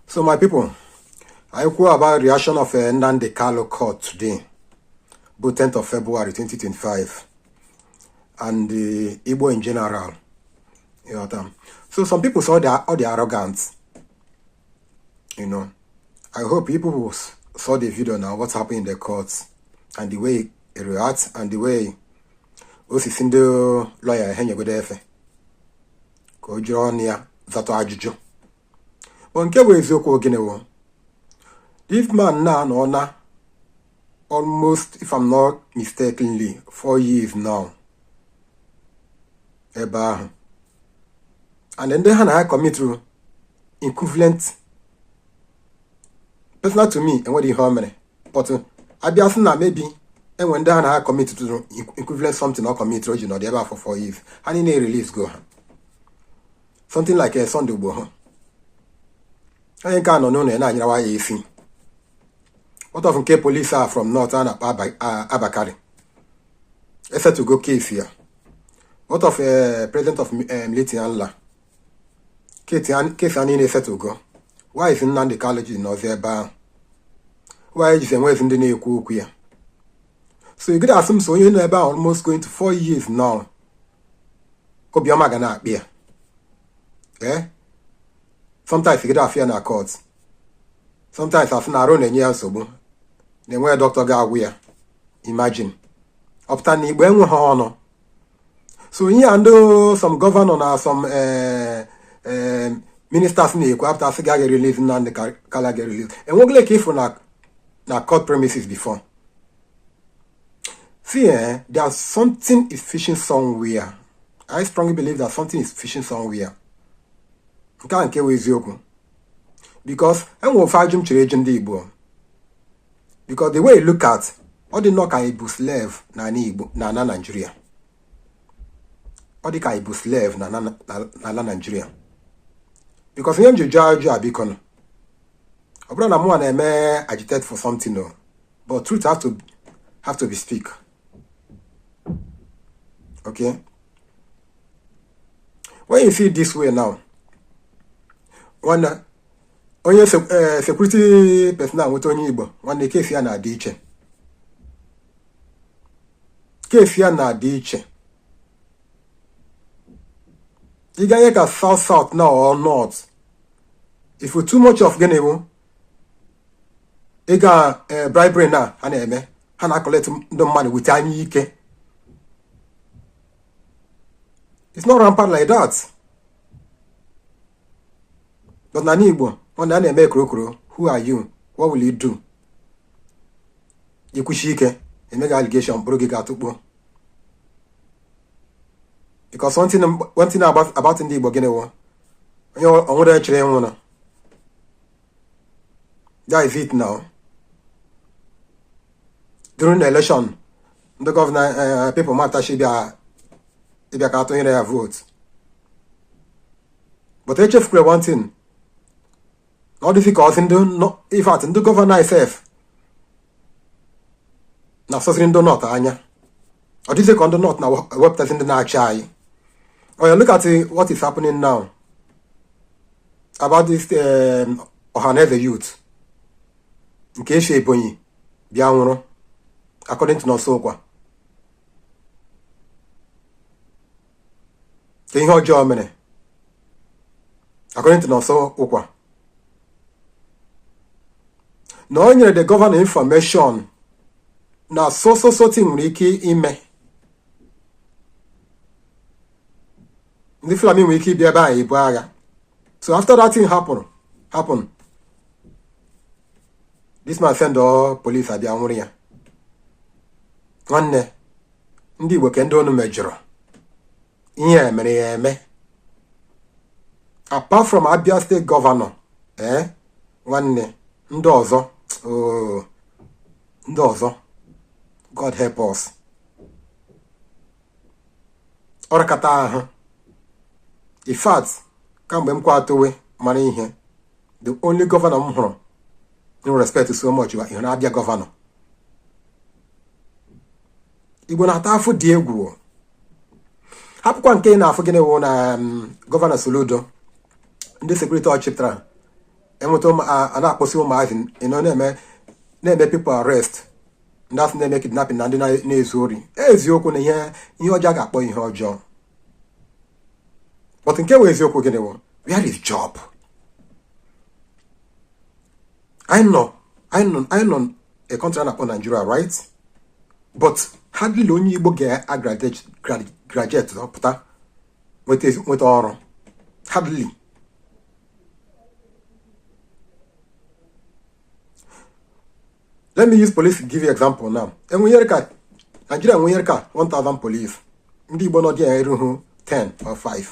so my people anyị kwuo about reaction of eh, Nnamdi Kanu court today bụ 10th of February 2025 and the Igbo in general you know, um, so some people saw their, all the arrogance you know I hope people saw the video now what's happening in the courts and the way he reacts and the way o si sị ndị lọya ha nyegodo efe ka o jiri ọnụ ya zatụ ajụjụ but nke bụ eziokwu ọ gịnị wụ this man a anọọna almost if I'm not mistakenly four years now ebe ahụ and ndị ha na ha kọmitụrụ equivalent personal to me enweghị ihe o mere but a bịa sị na maybe e nwee ndị ha na ha kọmitụrụ equivalent something ọ kọmitụrụ o ji nọdụ ebe ahụ for four years ha niile release go ha something like a eh, Sunday Igboho onye nke a nọ n'ụlọ ya na-anyarawa ya isi what of nke polisi a from north a na-akpọ Abba Kyari e settle go case ya what of eh, president of eh, Miyetti Allah case ya niile e settle go why is Nnamdi Kanu ji nọzi ebe ahụ why jizi enwezi ndị na-ekwu okwu ya so ị gaghị asị m so onye nọ ebe ahụ almost going to four years now obi ọma ga na-akpị ya ee sometimes ị gaghị afụ ya na court sometimes a sị na arụ na-enye ya nsogbu na enweghị dọkịta ga-agwọ ya imagine ọ pụta na Igbo enweghị ọnụ so ihe a ndị some gọvanọ na some eh, eh, ministers na-ekwu a pụta sị gị a ga release Nnamdi Kanu a ga release e nwegole nke ị fụrụ na court premises before See, eh, there's something is fishing somewhere. I strongly believe that something is fishing somewhere. nke a nke wụ eziokwu because e nwere ofu ajụ m chọrọ ịjụ ndị Igbo because the way you look at ọ dị nnọọ ka ị bụ slave na Igbo na ala Nigeria ọ dị ka ị bụ slave na ala Nigeria because ihe m ji jụọ ajụ a bikonụ ọ bụrọ na mụnwa na-eme agitate for something o But truth have to have to be speak. Okay? When you see it this way now, when uh, onye uh, security personnel nweta onye Igbo nwanne case ya na-adị iche case ya na-adị iche ị ganye ka south south na or north ị fụ too much of gịnị bụ ịga eh, bribery na ha na-eme ha na-acollect ndị mmadụ with anya ike it's not rampant like that but n'ani Igbo a na-eme e korokoro who are you what will you do i kwushie ike e mee gị allegation buru gị gaa tụkpọ because one thing one thing about about ndị Igbo gịnị wụ onye onwere echere ịnwụ na that is it now during the election ndị governor eh, eh, people matachi bịa ịbịa ka a tụnyere ya vote but echefukwere one thing ọ dịzi ka a sị ndị in fact ndị governor itself na-asọzịrị ndị north anya ọ dịzi ka ndị north na-ewepụtazị ndị na-achị anyị oya look at what is happening now about this um, Ohaneze youth nke e shi Ebonyi bịa nwụrụ according to Nonso Nkwa ke ihe ọjọọ o mere according to Nonso Nkwa na o nyere the governor information na so so so thing nwere ike ime ndị Fulani nwere ike ịbịa ebe ahụ ibu agha so after that thing happen happen this man send all police a bịa nwụrụ ya nwanne ndị Igbo ke ndị unu mejọrọ ihe a mere ya eme apart from Abia state governor ee eh, nwanne ndị ọzọ oh, ndị ọzọ God help us ọ rakata ahụ in fact kamgbe m kwa towe mara ihe the only governor m hụrụ m respect so much bụ Abia governor Igbo na-ata afụ dị egwu hapụkwa nke ị na-afụ gịnị wụ na um, Governor Soludo ndị security ọ chịpụtara enweta a na-akpọsi ụmụazị ịnọ na-eme na-eme people arrest ndị a sị na-eme kidnapping na ndị na-ezu ori eziokwu na ihe ihe ọjọọ ga-akpọ ihe ọjọọ but nke wụ eziokwu gịnị wụ where is job I nọ I nọ I nọ a country a na-akpọ Nigeria right but hardly onye Igbo ga-agraduate pụta nweta ọrụ hardly let me use police give you example now Nigeria enwenyere ka 1000 police ndị Igbo nọ dị ya erughị 10 or 5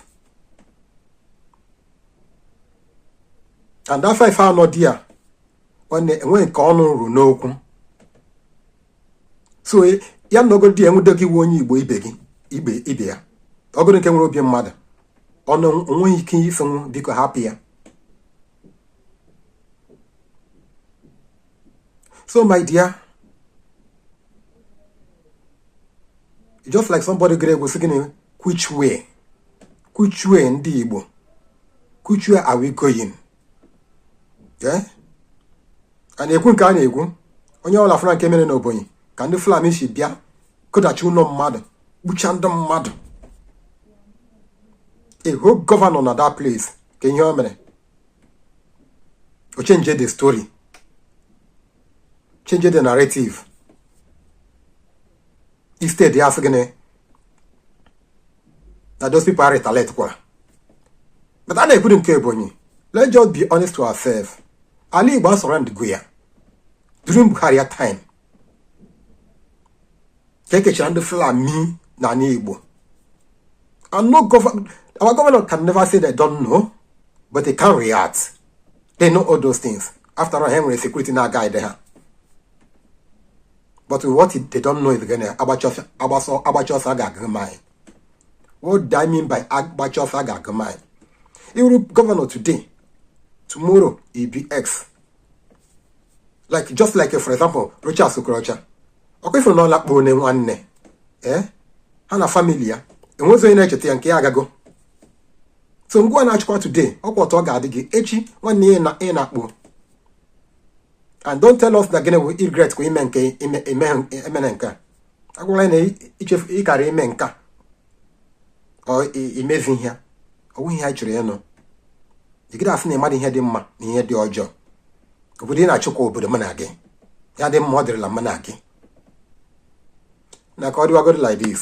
and that 5 ha nọ dị ya enweghị nke ọnụ ruru n'okwu so ya nọgodi enwude gị ị wụ onye Igbo ibe ya ọ wụrụ nke nwere obi mmadụ ọnụ o nweghị ike ịsịnwu biko hapụ ya So, my dear, just like somebody great was saying, which way? Which way Ndị Igbo? Which way are we going? Yeah? And ekwu nke a na-ekwu onye ọla fụra nke mere n'Ebonyi ka ndị Fulani si bịa kụdachi ụlọ mmadụ gbucha ndị mmadụ a whole governor na that place kee ihe o mere o change the story change the narrative instead ya asị gịnị na those people are retaliate kwara but a na-ekwudi nke Ebonyi let's just be honest to ourselves ala Igbo a surroundigo ya during Buhari time ka ekechara ndị Fulani n'ala Igbo and no government our governor can never say they don't know but they can't react they know all those things after all ha nwere security na-a guide ha but what they don't know is gịnị agbacha ọsọ ga-agụ mile what do I mean by agbacha ọsọ ga-agụ mile ị wụrụ governor today tomorrow ị be ex like just like for example Rochas Okorocha ọ kwa ị fụrụ na ọ lakpuone nwanne ee eh? ha na family ya enwezi onye na-echeta ya nke ya agago so ngịwa na-achịkwa today ọ kwa otu ọ ga-adị gị echi nwanne ya na ị nakpuo and don't tell us na gịnị bụ regret kwa ime nke emena nke a agwala anyị na ị chefu ị kara ime nke a imezi ihe ọ wụghị ihe anyị chọrọ ịnụ ị gadị asị na ị madị ihe dị mma na ihe dị ọjọọ obodo ị na-achịkwa obodo mụ na gị ya dị mma ọ dịrịla mụ na gị na ka ọ dịwagoro like this